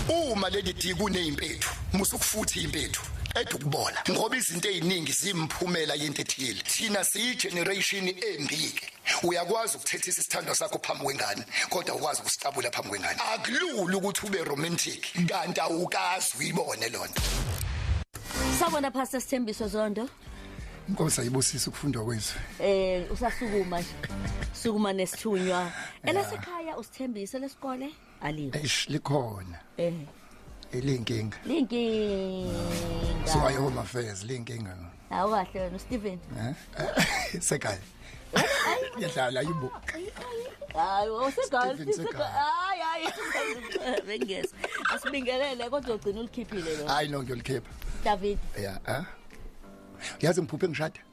uma leli di kunezimpethu musukufuthi impethu qeda ukubola ngoba izinto eziningi zimphumela yento ethile thina siyigeneration embike uyakwazi ukuthethisa isithando sakho phambi kwengane kodwa ukwazi ukusitabula phambi kwengane akulula ukuthi ube romantic kanti awukazi uyibone lonto Sabona Pastor Sithembiso Zondo Inkosi ayibusise ukufundwa kwezwe Eh usasukuma nje sukuma nesithunywa elasekhaya usithembise lesikole alikho eish likhona eh ilinkinga linkinga so ayo home affairs linkinga no awu kahle wena Stephen eh sekaya ngiyadlala yibo hayi osegal hayi hayi bengeza asibingelele kodwa ugcina ulikhiphile lo hayi no ngiyolikhipha David yeah eh uyazi ngiphuphe ngishada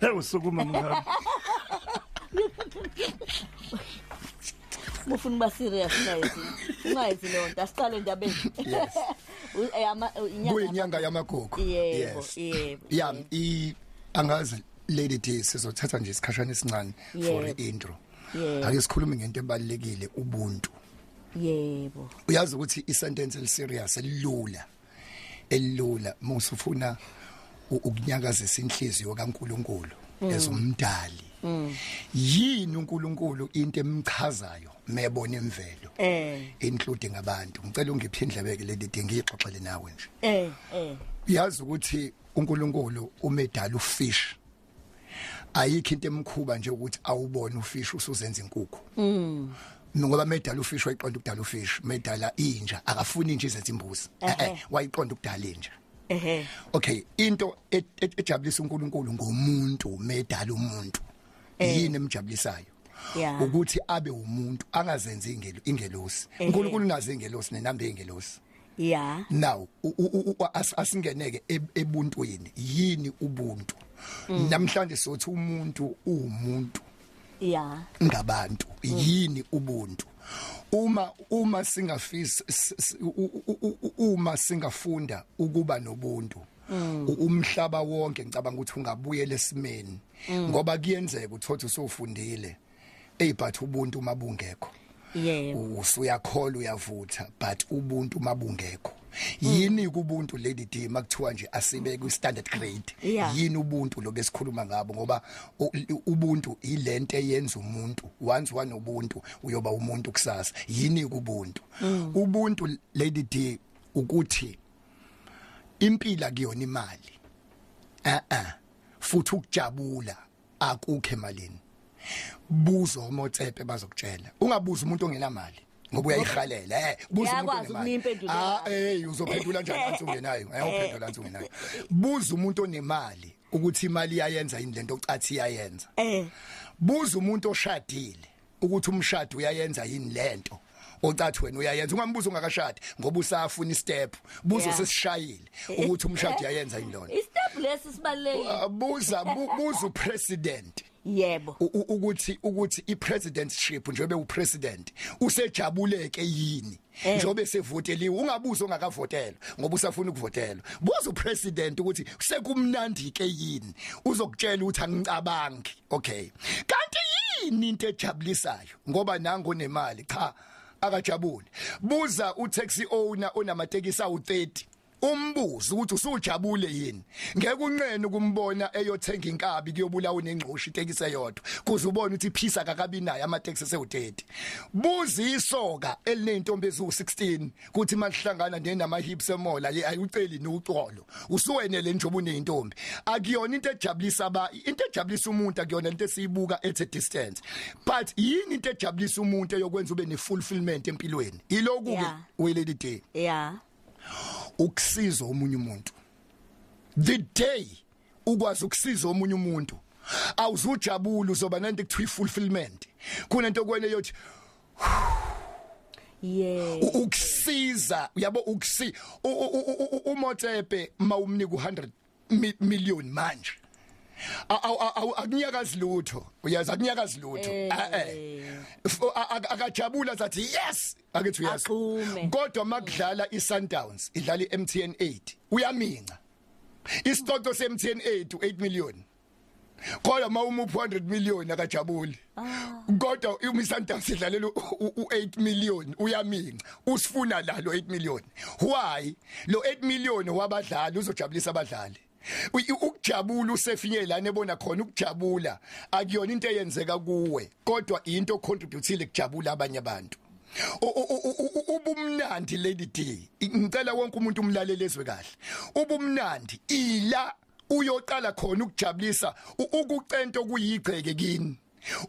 Hey usukuma mngaka. Mufuna ba serious guys. Ungayithi lo nto asiqale ndabeni. Yes. Uyama eh, inyanga. Kuyinyanga yamagugu. Yes. Yebo. Yeah, i angazi lady D sizothatha nje isikhashana esincane for intro. Yeah. Ake sikhulume ngento ebalekile ubuntu. Yebo. Uyazi ukuthi i sentence eli serious elilula. elula musufuna ukunyakazisa inhliziyo kaNkuluNkulu mm. ezomdali mm. yini uNkulunkulu into emchazayo mebona imvelo eh including abantu ngicela ungiphe indlebeke leli dingi ixoxele nawe nje eh eh uyazi ukuthi uNkulunkulu umedala ufish ayikho into emkhuba nje ukuthi awubone ufish usuzenza inkukhu mm ngoba medala ufish wayiqonda ukudala ufish medala inja akafuni inja izenza imbuzi eh, eh wayiqonda ukudala inja ehe okay into e, e, ejabulisa uNkulunkulu ngomuntu medala umuntu eh. yini emjabulisayo yeah. ukuthi abe umuntu angazenzi ingelo ingelosi uNkulunkulu unaze ingelosi nenambe ingelosi yeah now asingeneke e, ebuntwini yini ubuntu mm. namhlanje sothi umuntu uwumuntu yeah ngabantu mm. yini ubuntu uma uma singafisa uma singafunda ukuba nobuntu mm. umhlaba wonke ngicabanga ukuthi ungabuyela esimeni mm. ngoba kuyenzeka uthothi usofundile ey but ubuntu uma bungekho yebo usuyakhola uyavutha but ubuntu uma bungekho yini kubuntu lady D makuthiwa nje asibe ku standard grade yini ubuntu lo besikhuluma ngabo ngoba ubuntu ilento eyenza umuntu once wanobuntu uyoba umuntu kusasa yini kubuntu mm. ubuntu lady D ukuthi impila kuyona imali eh eh futhi ukujabula akukho emalini buzo omotsepe bazokutshela ungabuza umuntu ongenamali ngoba uyayihalela eh buza umuntu onemali ah eh uzophendula njani anthi ungenayo eh uphendula anthi ungenayo buza umuntu onemali ukuthi imali iyayenza yini lento ocathi iyayenza eh buza umuntu oshadile ukuthi umshado uyayenza yini lento ocathi wena uyayenza ungambuza ungakashadi ngoba usafuna istep buzo sesishayile ukuthi umshado uyayenza yini lona istep lesi sibalekile buza buza upresident yebo ukuthi ukuthi ipresidentship njengoba upresident usejabuleke yini Eh. njobe sevoteliwe ungabuza ongakavotela ngoba usafuna ukuvotela buza upresident ukuthi sekumnandi ke yini uzokutshela ukuthi angicabangi okay kanti yini into ejabulisayo ngoba nango nemali cha akajabule buza utaxi owner onamatekisi awu30 umbuzo ukuthi usujabule yini ngeke unqene ukumbona eyothenga inkabi kuyobulawa nengcoshi itekisi eyodwa kuze ubone ukuthi phisa kakabi naye amateksi esewu30 buza isoka elinentombi eziwu16 kuthi malihlangana nenama hips emola ye ayuceli noxolo usuwenele nje obunentombi akuyona into ejabulisa aba into ejabulisa umuntu akuyona into esiyibuka at a distance but yini into ejabulisa umuntu eyokwenza ube ne fulfillment empilweni iloku ke we lady day yeah ukusiza omunye umuntu the day ukwazi ukusiza omunye umuntu awuzujabula uzoba nento ekuthiwa fulfillment kunento kwene yothi yeah ukusiza yabo ukusi umotsepe mawumnika u100 million manje akunyakazi lutho uyazi akunyakazi lutho eh. eh akajabula zathi yes akethi uyazi kodwa makudlala iSundowns idlala iMTN 8 uyaminca isicoco seMTN 8 u8 million kodwa uma umuphi 100 million akajabuli ah. kodwa uma isundowns idlalela u8 million uyaminca usifuna la lo 8 million why lo 8 million wabadlali uzojabulisa abadlali ukujabula usefinye lana ebona khona ukujabula akuyona into eyenzeka kuwe kodwa into ocontributile kujabula abanye abantu ubumnandi lady D ngicela wonke umuntu umlalele ezwe kahle ubumnandi ila uyoqala khona ukujabulisa ukucento kuyigceke kini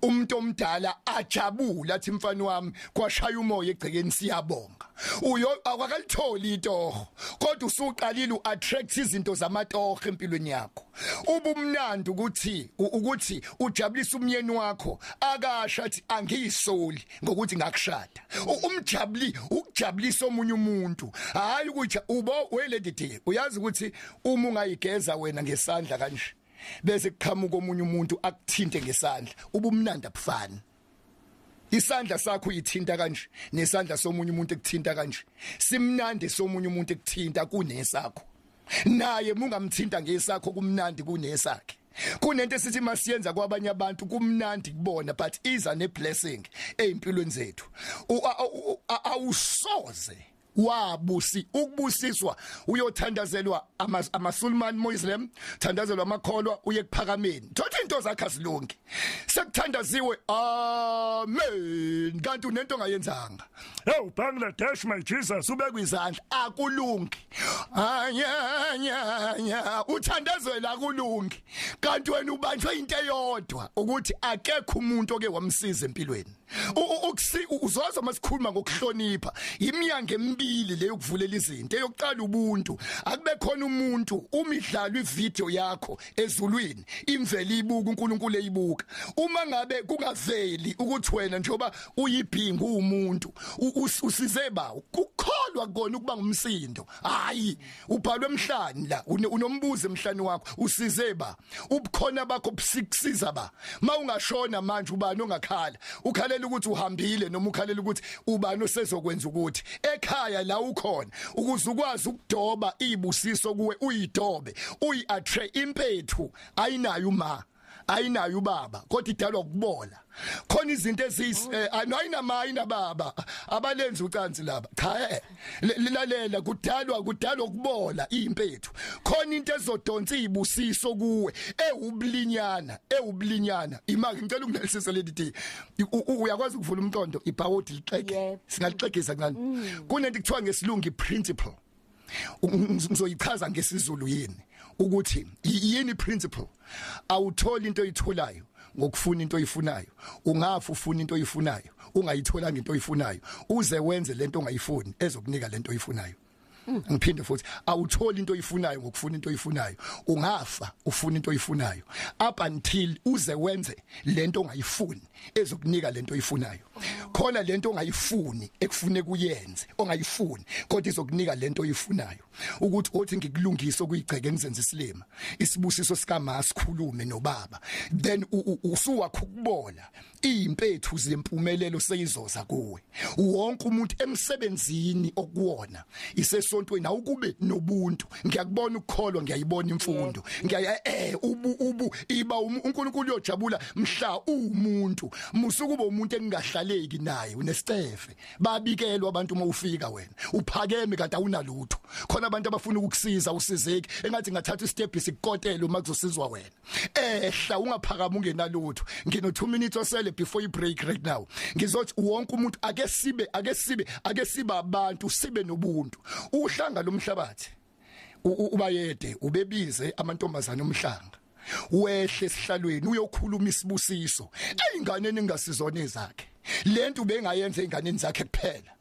umuntu omdala ajabula athi mfana wami kwashaya umoya egcekeni siyabonga uyo awakalitholi itoho kodwa usuqalile uattract izinto zamatoho empilweni yakho ubumnandi ukuthi ukuthi ujabulisa umyeni wakho akasha athi angiyisoli ngokuthi ngakushada umjabuli ukujabulisa omunye umuntu hayi ukuthi ubo welady uyazi ukuthi uma ungayigeza wena ngesandla kanje bese kuqhamuka omunye umuntu akuthinte ngesandla ubumnandi abufani isandla sakho uyithinta kanje nesandla somunye umuntu ekuthinta kanje simnandi somunye umuntu ekuthinta kunesakho naye mungamthinta ngesakho kumnandi kunesakhe kunento esithi masiyenza kwabanye abantu kumnandi kubona but iza ne blessing ezimpilweni zethu awusoze wabusi ukubusiswa uyothandazelwa amasulman muslim thandazelwa amakholwa uye kuphakameni thothi into zakhe azilungi sekuthandaziwe amen kanti unento ongayenzanga hey bangladesh my jesus ubekwa izandla akulungi anyanya uthandazela akulungi kanti wena ubanjwe into eyodwa ukuthi akekho umuntu oke wamsiza empilweni ukusi uzoza masikhuluma ngokuhlonipha imnyango emibili leyo kuvulela izinto eyokuqala ubuntu akube khona umuntu umidlalo ivideo yakho ezulwini imveli ibuka uNkulunkulu eyibuka uma ngabe kungaveli ukuthi wena njoba uyibhinga umuntu usize ba ukukholwa kona ukuba ngumsindo hayi ubhalwe emhlani la unombuzo emhlani wakho usize ba ubukhona bakho busiksiza ba mawungashona manje ubani ongakhala ukhalela ukuthi uhambile noma ukhalela ukuthi ubani osezokwenza ukuthi ekhaya la ukhona ukuze ukwazi ukudoba izibusiso kuwe uyidobe uyiattract impethu ayinayo uma ayinayo ubaba kodwa idalwa ukubola khona izinto ezis eh, ayinama ayina baba abalenzi ucansi laba cha eh, lilalela kudalwa kudalwa ukubola impethu khona into ezodonsa izibusiso kuwe ewublinyana ewublinyana imake ngicela unginelisise leli day uyakwazi ukuvula umqondo ibhawodi lixeke singalixegisa kancane mm. kunento kuthiwa ngesilungu principle ngizoyichaza ngesizulu yini ukuthi yini principle awutholi into oyitholayo ngokufuna into oyifunayo ungafu ufuna into oyifunayo ungayitholanga into oyifunayo uze wenze lento ongayifuni ezokunika lento oyifunayo ngiphinde futhi awutholi into oyifunayo ngokufuna into oyifunayo ungafa ufuna into oyifunayo up until uze wenze lento ongayifuni ezokunika lento oyifunayo khona lento ongayifuni ekufune kuyenze ongayifuni kodwa izokunika lento oyifunayo ukuthi othi ngikulungise okuyigceke ngizenze isilima isibusiso sikama sikhulume nobaba then usuwakho ukubola impethu zempumelelo seyizoza kuwe wonke umuntu emsebenzini okuwona isesontweni awukube nobuntu ngiyakubona ukukholwa ngiyayibona imfundo ngiyaya eh ubu ubu iba um, uNkulunkulu uyojabula mhla umuntu musukuba umuntu engingahlaleki naye unesicefe babikelwa abantu uma ufika wena uphakeme kanti awunalutho khona abantu abafuna ukukusiza usizeki engathi ngathatha istep sikukotela uma kuzosizwa wena ehla ungaphakama ungenalutho ngino 2 minutes osele before you break right now ngizothi wonke umuntu ake sibe ake sibe ake sibe abantu sibe nobuntu uhlanga lomhlabathi ubayede ubebize amantombazana omhlanga wehle esihlalweni uyokhuluma isibusiso ingane ningasizona izakhe lento ubengayenza ingane zakhe kuphela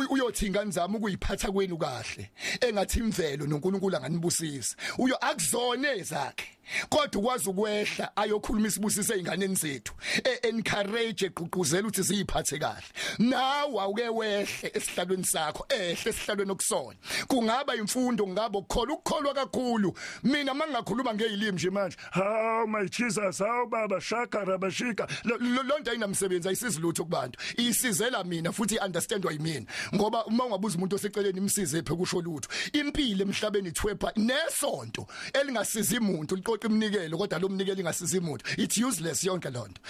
uyothi ingane zami ukuyiphatha kwenu kahle engathi imvelo noNkulunkulu anganibusisa uyo akuzone ezakhe kodwa ukwazi ukwehla ayokhuluma isibusise einganeni zethu e encourage egqugquzela ukuthi ziyiphathe kahle nawe awuke wehle esihlalweni sakho ehle esihlalweni okusona kungaba imfundo ngabo ukukholwa ukukholwa kakhulu mina mangingakhuluma ngezilimi nje manje Haw my Jesus, haw baba shaka rabashika. Lo nto ayinamsebenzi ayisizi lutho kubantu. Isizela mina futhi understandwa yimina. Ngoba uma ungabuza umuntu oseceleni imsize ephe kusho lutho. Impilo emhlabeni ithwepha nesonto elingasizi umuntu liqoqa iminikelo kodwa lo mnikelo ingasizi umuntu. It's useless yonke lo nto.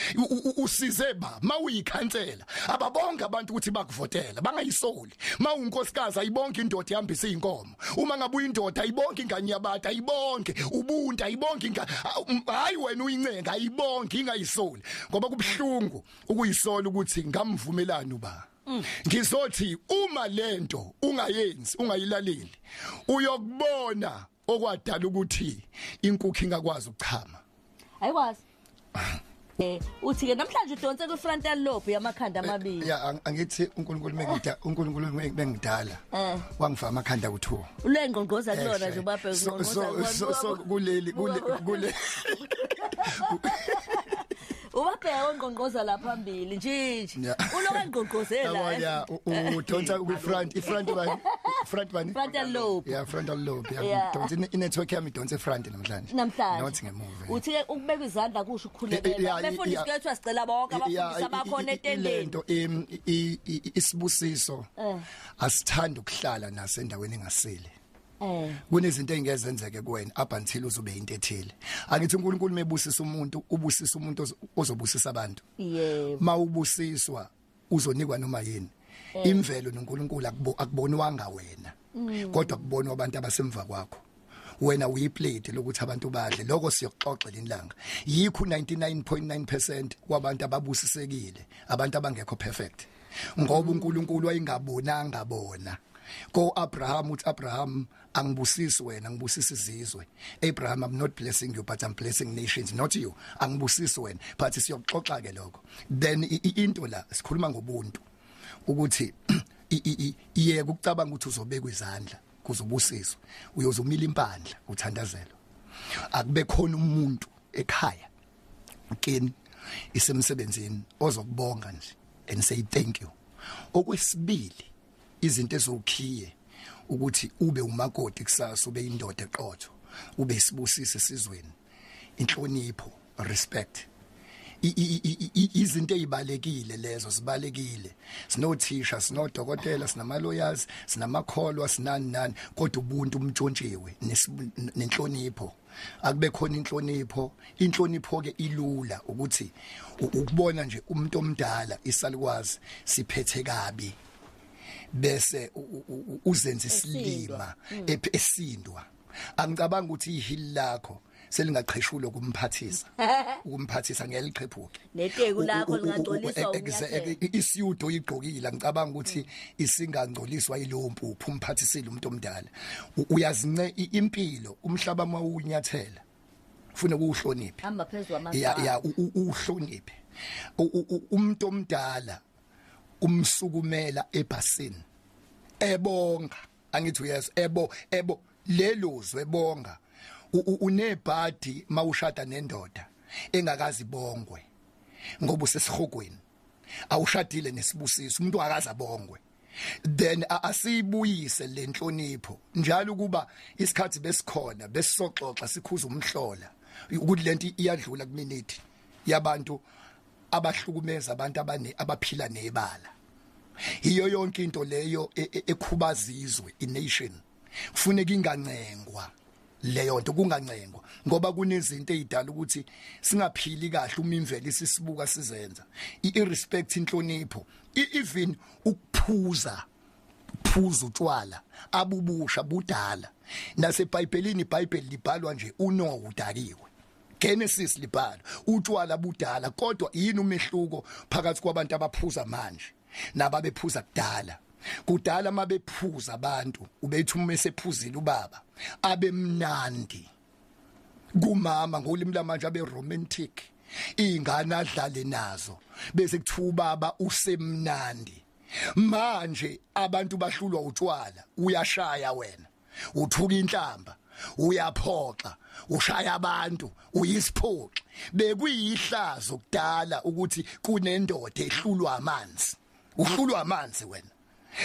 Usize ba mawuyikhansela ababonga abantu ukuthi bakuvotela bangayisoli. Mawunkosikazi ayibonga indoda ihambisa izinkomo. uma ngabe uyindoda ayibonke ingane yabata ayibonke ubuntu ayibonke ingane hayi wena uyincenga ayibonke ingayisoli ngoba kubuhlungu ukuyisola ukuthi ngamvumelani uba ngizothi uma lento ungayenzi ungayilaleli uyokubona okwadala ukuthi inkukhu ingakwazi ukuchama ayikwazi Eh, uthi ke namhlanje udonse ku frontal lobe yamakhanda eh, amabili ya angithi uNkulunkulu mengida uNkulunkulu mengidala eh. wangifa amakhanda kuthiwa ulengqongqoza kulona nje ubabhe ngqongqoza so kuleli kule ubabheka ongqongqoza la phambili njinji uloka ngqongqozela yabona eh? udonsa ku front i front bani front bani frontal lobe yeah frontal lobe yeah udonsa i network yami idonsa front namhlanje namhlanje not ngemuva uthi ke ukubeka izandla kusho ukukhulekela abefundisi kuyethiwa sicela bonke abafundisi abakhona etendeni lento isibusiso eh. asithanda ukuhlala nasendaweni engasile Eh. kunezinto engezenzeke kuwena up until uzobe into ethile angithi uNkulunkulu mebusisa umuntu ubusisa umuntu ozobusisa abantu yebo mawubusiswa uzonikwa noma yini mm. imvelo noNkulunkulu akubo akubonwanga wena mm. kodwa kubonwa abantu abasemva kwakho wena uyiplate lokuthi abantu badle lokho siyoxoxa lenilanga yikho 99.9% kwabantu ababusisekile abantu abangekho perfect ngoba uNkulunkulu wayengabonanga bona ko Abraham uthi Abraham angibusisi wena ngibusisa izizwe Abraham I'm not blessing you but I'm blessing nations not you angibusisi wena but siyoxoxa ke lokho then into la sikhuluma ngobuntu ukuthi iye ukucabanga ukuthi uzobeka izandla kuzobusiswa uyozumila impandla uthandazelwa akube khona umuntu ekhaya kini isemsebenzini ozokubonga nje and say thank you okwesibili izinto ezokhiye ukuthi ube umakoti kusasa ube indoda eqotho ube isibusise sizweni inhlonipho respect izinto ezibalekile lezo sibalekile sinothisha sinodokotela sinamaloyers sinamakholwa sinani nani kodwa ubuntu umntshontshiwe nenhlonipho akube khona inhlonipho inhlonipho ke ilula ukuthi ukubona nje umuntu omdala isalukwazi siphethe kabi bese uzenza isilima mm. esindwa angicabanga ukuthi ihili lakho selingaqheshulo kumphathisa ukumphathisa ngeke liqhephuke neteku lakho lingacoliswa isiyudo igqokile ngicabanga ukuthi isingangcoliswa ilowo mpuphu umphathisile umuntu omdala uyazince impilo umhlaba mawunyathela ufuna ukuhlonipha hamba phezulu amazwi ya ya uhloniphe umuntu omdala umsukumela ebhasini ebonga angithi yes ebo ebo lelozwe bonga unebhadi mawushada nendoda engakazi bongwe ngoba usesihogweni awushadile nesibusiso umuntu akaza bongwe then asiyibuyise lenhlonipho njalo kuba isikhathi besikhona besisoxoxa sikhuza umhlola ukuthi lento iyadlula kuminute yabantu abahlukumeza abantu abane abaphila nebala yiyo yonke into leyo e, e, ekhubaza izwe ination e kufuneka ingancengwa leyo nto kungancengwa ngoba kunezinto ezidala ukuthi singaphili kahle uma imvelo isisibuka sizenza irespect inhlonipho even ukuphuza phuza utshwala abubusha budala nasebhayibhelini ibhayibheli libhalwa nje uNoah udakiwe Genesis libhala utshwala budala kodwa yini umehluko phakathi kwabantu abaphuza manje nababephuza kudala kudala uma bephuza abantu ubethi uma esephuzile ubaba abemnandi kumama ngolimi lamanje abe romantic ingane adlale nazo bese kuthiwa ubaba usemnandi manje abantu bahlulwa utshwala uyashaya wena uthuka inhlamba uyaphoxa ushaya abantu uyisiphoxi bekuyihlazo kudala ukuthi kunendoda ehlulwa amanzi uhlulwa amanzi wena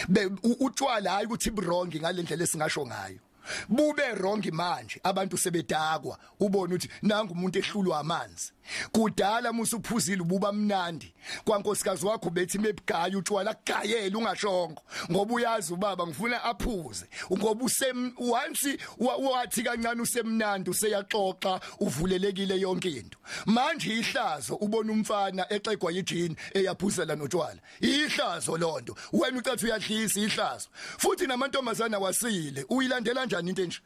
be utshwala hayi ukuthi wrong ngalendlela esingasho ngayo bube wrong manje abantu sebedakwa ubone ukuthi nangu umuntu ehlulwa amanzi kudala musa uphuzile ububa mnandi kwankosikazi wakho bethi mebugaya utshwala kugayela ungashongo ngoba uyazi ubaba ngifuna aphuze ngoba usem once wathi kancane usemnandi useyaxoxa uvulelekile yonke into manje ihlazo ubona umfana exegwa yijini eyaphuzela notshwala ihlazo lonto wena ucathi uyadlisa ihlazo futhi namantombazana wasile uyilandela kanjani into enje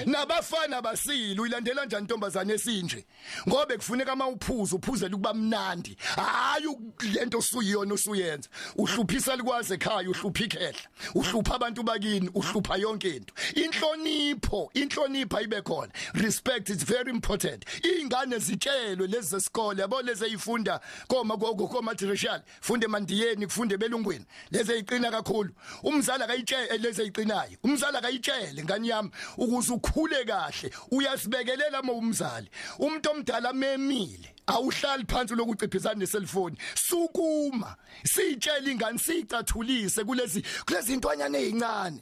nabafana basile uyilandela njani intombazane esinje ngoba kufuneka ama uphuzo uphuzela ukuba mnandi hayi lento usuyiyona usuyenza uhluphisa likwaze ekhaya uhlupha ikhehla uhlupha abantu bakini uhlupha yonke into inhlonipho inhlonipho ayibe khona respect is very important ingane zitshelwe lezi zesikole yabo lezi eyifunda koma koma tertiary funde mandiyeni kufunde belungwini leze iqina kakhulu umzali akayitshele leze iqinayo umzali akayitshele ngani yami ukuze ukhule kahle uyasibekelela uma umzali umuntu omdala memile awuhlali phansi lokuciphisana neselfoni sukuma sitshela ingane sicathulise kulezi kulezi ntwanyana ezincane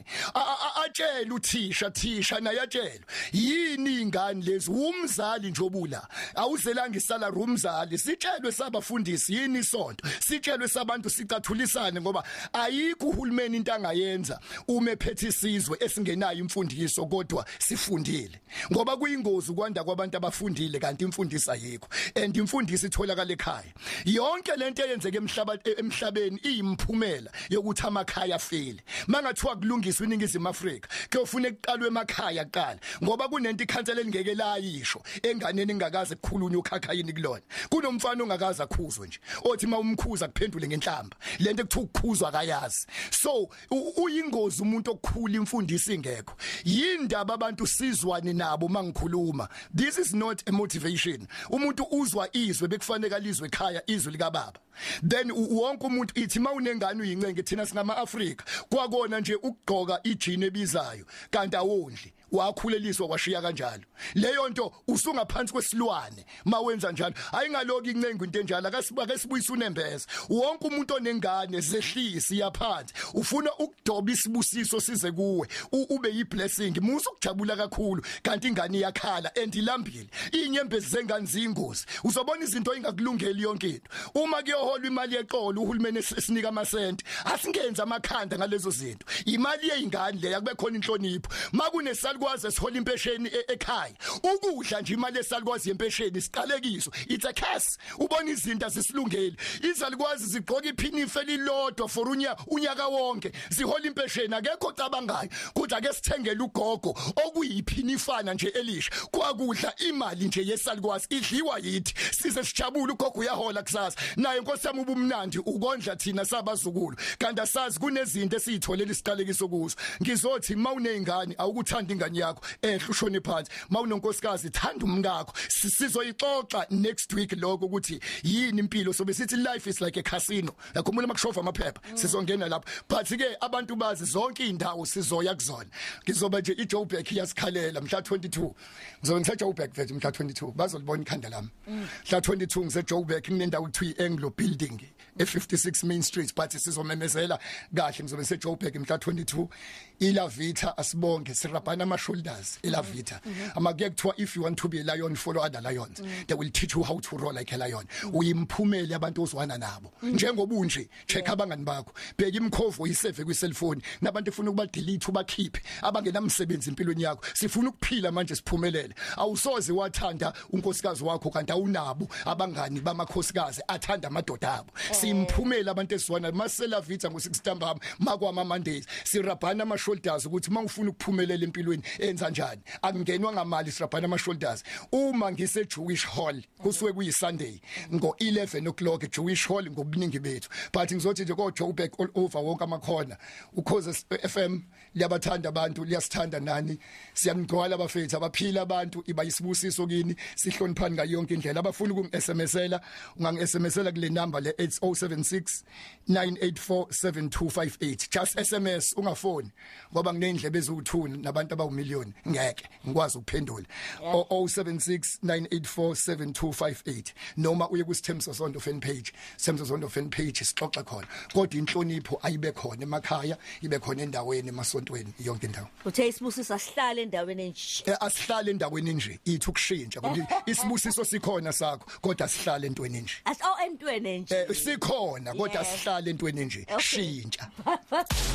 atshela uthisha thisha naye atshela yini ingane lezi umzali njobula awuzelanga isala rumzali sitshelwe sabafundisi yini isonto sitshelwe sabantu sicathulisane ngoba ayikho uhulumeni into angayenza uma ephethe isizwe esingenayo imfundiso kodwa sifundile ngoba kuyingozi ukwanda kwabantu abafundile kanti imfundiso ayikho and imfundiso itholakala ekhaya yonke lento eyenzeke emhlaba emhlabeni iyimphumela yokuthi amakhaya afile mangathiwa kulungiswa iningizimu Afrika kuyofuna ekuqalwe emakhaya kuqala ngoba kunento ikhansela elingeke layisho enganeni ingakaze kukhulunywe ukhakha yini kulona kunomfana ongakaza khuzwe nje othi mawumkhuza kuphendule ngenhlamba lento ekuthiwa ukukhuzwa akayazi so uyingozi umuntu okukhula imfundiso ingekho yindaba abantu sizwani nabo mangikhuluma this is not a motivation umuntu uzwa izwe bekufanele alizwe ekhaya izwi lika baba then wonke umuntu ithi mawunengane uyincenge thina singama Africa kwakona nje ukugqoka ijini ebizayo kanti awondli wakhuleliswa washiya kanjalo leyo nto usungaphansi kwesilwane mawenza njalo ayingaloki incengu into enjalo akasibake sibuyisa unembeza wonke umuntu onengane zehlisi yaphansi ufuna ukudoba isibusiso size kuwe ube yiblessing musa ukujabula kakhulu kanti ingane iyakhala and ilambile inyembezi zengane ziyingozi uzobona izinto ingakulungeli yonke into uma kuyoholwa imali yexolo uhulumeni esinika amasente asingenza amakhanda ngalezo zinto imali yezingane leya kube khona inhlonipho makunesalukwazi esihola impesheni e-, ekhaya ukudla nje imali esalukwazi yempesheni siqalekiso it's a curse ubona izinto azisilungeli izalukwazi zigqoka iphinife lilodwa for unya unyaka wonke zihola impesheni akekho ocabangayo ukuthi ake sithengele ugogo okuyiphinifana nje elisha kwakudla imali nje yesalikwazi idliwa yithi size sijabule ugogo uyahola kusasa naye nkosi yami ubumnandi ukondla thina sabazukulu kanti asazi kunezinto esizitholele isiqalekiso kuzo ngizothi mawunezingane awukuthanda ingane yakho ehle ushone phansi mawunonkosikazi thanda umkakho sizoyixoxa next week lokho ukuthi yini impilo sobe sithi life is like a casino yakhumbula makushova amaphepha mm. sizongena lapho but ke abantu bazi zonke indawo sizoya kuzona ngizoba nje iJoburg iyasikhalela mhla 22 ngizobe ngise Joburg mfethu mhla 22 bazolibona ikhanda lami mm. mhla 22 ngise Joburg kunendawo kuthiwa Anglo Building e56 Main Street but sizomemezela kahle ngizobe ngise Joburg mhla 22 ilavita asibonge sirabhana ama shoulders ilavita mm-hmm. mm-hmm. ama kuye kuthiwa if you want to be a lion follow other lions mm-hmm. they will teach you how to roll like a lion uyimphumela abantu ozwana nabo njengoba unje check abangani bakho bheka imkhovo iseve kwi cellphone nabantu efuna ukuba delete ubakhiphe abangenamsebenzi empilweni yakho sifuna ukuphila manje siphumelele awusoze wathanda unkosikazi wakho kanti awunabo abangani bamakhosikazi athanda amadoda abo eh. simphumela abantu esiwana masela vitha ngo 6 ntambama makwama Mondays sirabhana ama shoulders ukuthi mawufuna ukuphumelela empilweni enza kanjani akungenwa ngamali sirabhana ama shoulders uma ngise Jewish Hall kusuke kuyi Sunday ngo 11 o'clock Jewish Hall ngobuningi bethu but ngizothi nje kodwa ubek all over wonke amakhona ukhoze FM liyabathanda abantu liyasithanda nani siyanigcwala abafethu abaphila abantu iba isibusiso kini sihloniphani ngayo yonke indlela abafuna ukungi-SMSela ungangi-SMSela kule number le 8076 9847258 just SMS ungafoni ngoba nginendlebe eziwuthuni nabantu abawumillion ngeke ngikwazi ukuphendula 0076 9847258 noma uye kusithembiso sonto fan page Semzo Zondo fan page sixoxe khona kodwa inhlonipho ayibe khona emakhaya ibe khona endaweni emasontweni yonke indawo uthe isibusiso asihlale endaweni enje eh, asihlale endaweni enje ithi ukushintsha kodwa isibusiso sikhona sakho kodwa asihlale entweni enje aso oh, entweni enje eh, sikhona kodwa asihlale entweni enje shintsha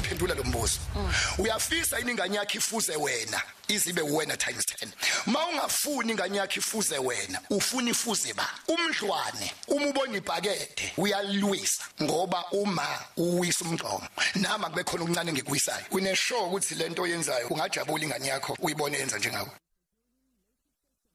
phendula lo mbuzo mm. uyafisa iningane yakhe ifuze wena izibe uwena times 10 uma ungafuni ingane yakhe ifuze wena ufuna ifuze ba umdlwane uma ubona ibhakede uyalwisa ngoba uma uwisa umgqomo nama kube khona okuncane ngikuyisayo une show ukuthi lento oyenzayo ungajabula ingane yakho uyibone yenza njengawe